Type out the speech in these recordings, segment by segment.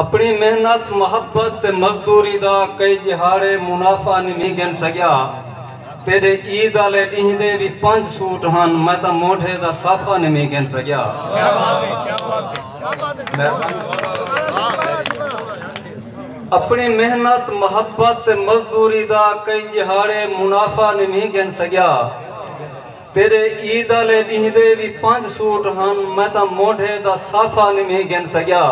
اپݨی محنت، محبت تے مزدوری دا کئی ڄہاڑے منافع نی گھن سڳیا۔ تیݙے عید آلے ݙینہہ دے وی پنج سوٹ ہن، میں تاں موڈھے دا صافہ نی گھن سڳیا۔ اپݨی محنت، محبت تے مزدوری دا کئی ڄہاڑے منافع نی گھن سڳیا۔ تیݙے عید آلے ݙینہہ دے وی پنج سوٹ ہن میں تاں موڈھے دا صافہ نویں گھن سڳیا۔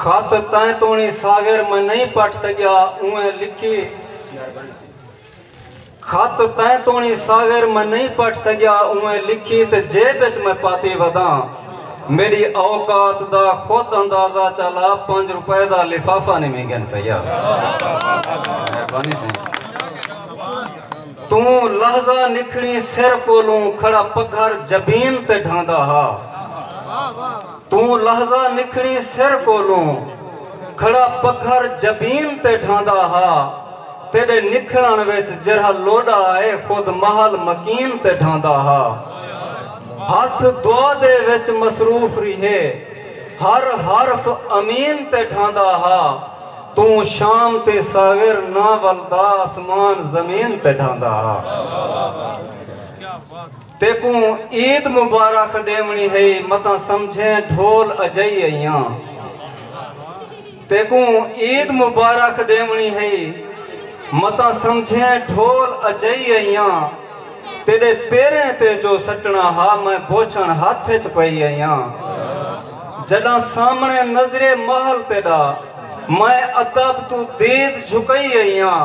خط تیں توݨی ساغر میں نئیں پٹھ سڳیا اونویں لکھی خط تیں توݨی ساغر میں نئیں پٹھ سڳیا اونویں لکھی تے جیب اچ میں پاتی وداں میݙی اوقات دا خود اندازہ چا لا پنج روپے دا لفافہ نویں گھن سڳیا۔ توں لحظہ نکھڑیں سر کولوں کھڑا پگھر جبین تے ڈھاندا ہا توں لحظہ نکھڑیں سر کولوں کھڑا پگھر جبین تے ڈھاندا ہا تیڈے نکھڑن وچ جیرھا لوڈا اے خود محل مکین تے ڈھاندا ہا ہتھ دعا دے وچ مصروف ریہے ہر حرف امین تے ڈھاندا ہا۔ توں شام تے ساغر نہ ولدا آسمان زمین تے ڈھاندا ہا تیکوں عید مبارخ ڈیونڑی ہئی متاں سمجھیں ڈھول اجئی ایاں تیکوں عید مبارخ ڈیونڑی ہئی متاں سمجھیں ڈھول اجئی ایاں۔ تیݙے پیریں تے جو سٹݨا ہا میں بوچھݨ ہتھ اچ پئی آئیاں جݙاں سامݨے نظرے محل تیݙا میں ادب توں دید جھکئی آئیاں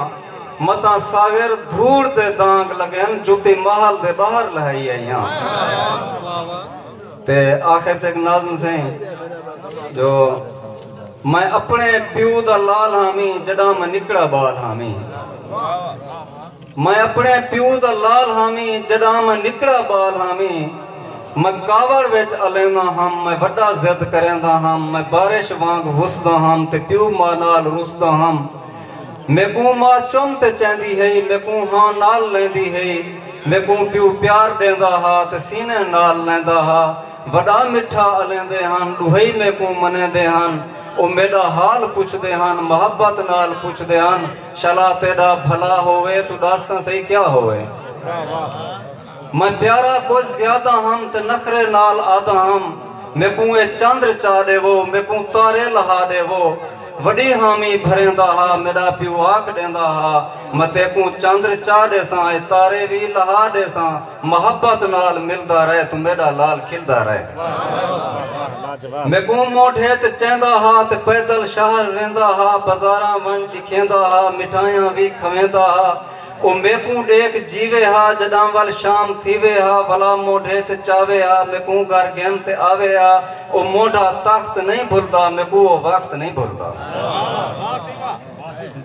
متاں ساغر دھوڑ دے دانگ لڳن جتی محل دے ٻاہر لہائی آئیاں تے آخر تے اک ناظم سئیں جو میں اپݨے پیو دا لال ہامی جݙاں میں نکڑا ٻال ہامی میں اپݨے پیو دا لال ہاں وی جݙاں میں نکڑا ٻال ہاں وی میں کاوڑ وچ الینداں ہم میں وݙا ضد کرینداں ہم میں بارش وانگ وسداں ہم تے پیو ماء نال رسداں ہم میکوں ماء چم تے چیندی ہئی میکوں ہاں نال لیندی ہئی میکوں پیو پیار ݙیندا ہا تے سینے نال لیندا ہا وݙا مٹھا الیندے ہن ݙوہئی میکوں منیندے ہن او میݙا حال پچھدے ہن محبت نال پچھدے ہن۔ شلا تیڈا بھلا ہووے توں ڈس تاں سہی کیا ہووے۔ میں پیارا کجھ زیادہ ہم تے نخرے نال آدھا ہم میکوں اے چندر چا ڈیوو میکوں تارے لہا ڈیوو وڈی حامی بھریندا ہا میڈا پیو آکھ ڈیندا ہا میں تیکوں چندر چا ڈیساں اے تارے وی لہا ڈیساں محبت نال ملدا رہ توں میڈا لال کھلدا رہ میکوں موڈھے تے چیندا ہا تے پیدل شہر ویندا ہا بازاراں ونج ڈکھیندا ہا مٹھائیاں وی کھویندا ہا او میکوں ڈیکھ جیوے ہا جڈاں ول شام تھیوے ہا ولا موڈھے تے چاوے ہا میکوں گھر گھن تے آوے ہا او موڈھا تخت نہیں بھلدا میکوں او وقت نہیں بھلدا۔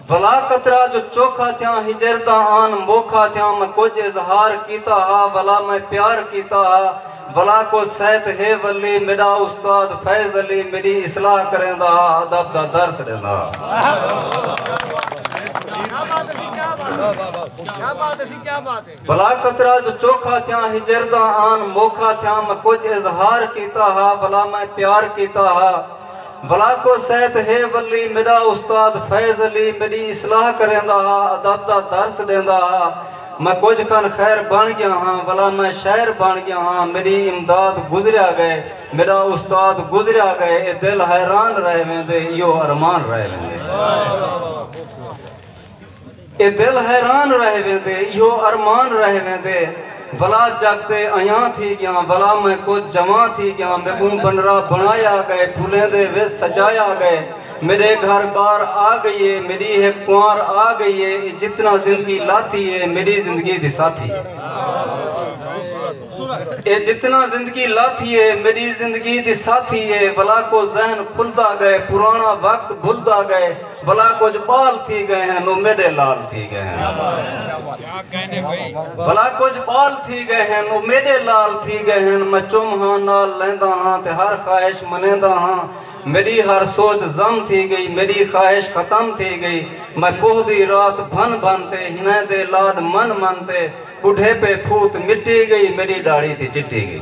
ولا قطرہ جو چوکھا تھیاں ہجرتاں آن موکھا تھیاں میں کجھ اظہار کیتا ہا ولا میں پیار کیتا ہا ولا کو سہت ہے ولی میڈا استاد فیض علی میڈی اصلاح کریندا ہا ادب دا درس ڈیندا ہا۔ بھلا قطرہ جو چوکھا تھیاں ہجرداں آن موکھا تھیاں میں کجھ اظہار کیتا ہا بھلا میں پیار کیتا ہا بھلا کو سیت ہے ولی میڈا استاد فیض علی میڈی اصلاح کریندا ہا ادب دا درس ڈیندا ہا میں کجھ کن خیر بن گیا ہاں بھلا میں شاعر بن گیا ہاں میڈی امداد گزریا گئے میڈا استاد گزریا گئے اے دل حیران رہ ویندے ایہو ارمان رہ ویندے۔ اے دل حیران رہ ویندے ایہو ارمان رہ ویندے ولا جگ تے ایاں تھی گیاں ولا میں کجھ جوان تھی گیاں میکوں بنرا بنڑایا گئے پھلیندے وچ سجایا گئے میڈے گھر بار آ گئی اے میڈی ہک کنوار آ گئی اے اے جتنا زندگی لاتی اے میڈی زندگی دی ساتھی اے جتنا زندگی لاتی اے میڈی زندگی دی ساتھی اے ولا کو ذہن کھلدا گئے پرانا وقت بھلدا گئے بھلا کجھ بال تھی گئے ہن او میڈے لال تھی گئے ہن بھلا کجھ بال تھی گئے ہن او میڈے لال تھی گئے ہن میں چم ہاں نال لیندا ہاں تے ہر خواہش منیندا ہاں میڈی ہر سوچ ضم تھی گئی میڈی خواہش ختم تھی گئی میں کوہ دی رات بھن بھن تے ہنیں دے لاڈ من من تے بڈھیپے پھوت مٹی گئی میڈی ڈاڑھی تھی چٹی گئی۔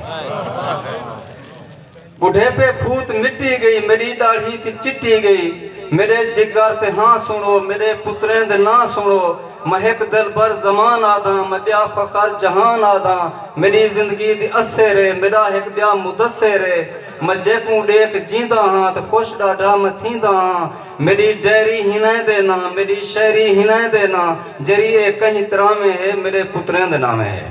بڈھیپے بھوت مٹی گئی میڈی ڈاڑھی تے چٹی گئی میڈے جگر تے ہاں سنڑو میڈے پتریں دے ناں سنڑو میں ہک دلبر زمان آدھاں میں بیا فخر جہان آدھاں میڈی زندگی دی اسے رے میڈا ہک بیا مدسے رے میں جیکوں ڈیکھ جینداں ہاں تے خوش ڈاڈھا میں تھینداں ہاں میݙی ڈیری ہنیں دے ناں میݙی شیری ہنیں دے ناں جری اے کہیں تراویں ہے میݙے پتریں دے ناویں ہے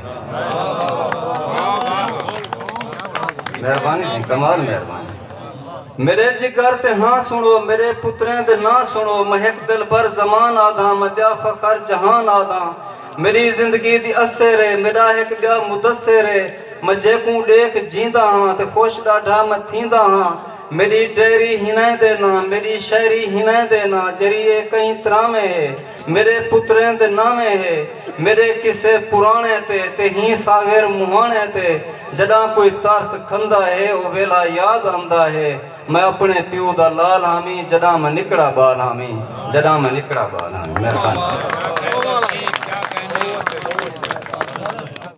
مہربانی جی کمال مہربانی میݙے جگر تے ہاں سنڑو میݙے پتریں دے ناں سنڑو میں ہک دلبر زمان آدھاں میں ٻیا فخر جہان آدھاں میݙی زندگی دی اسیر اے میݙا ہک ٻیا مدثر اے میں جیکوں ݙیکھ جیندا ہاں تے خوش ݙاڈھا میں تھیندا ہاں میݙی ٹہری ہنہیں دے ناں میݙی شہری ہنہیں دے ناں جری اے کہیں تراویں ہے میݙے پتریں دے ناویں ہے میݙے قصے پراݨے تے تے ہی ساغر مہاݨے تے جݙاں کوئی ترس کھندا ہے او ویلھا یاد آندا ہے میں اپݨے پیو دا لال ہامی جݙاں میں نکڑا بال ہامی جݙاں میں نکڑا بال ہامی مہربانی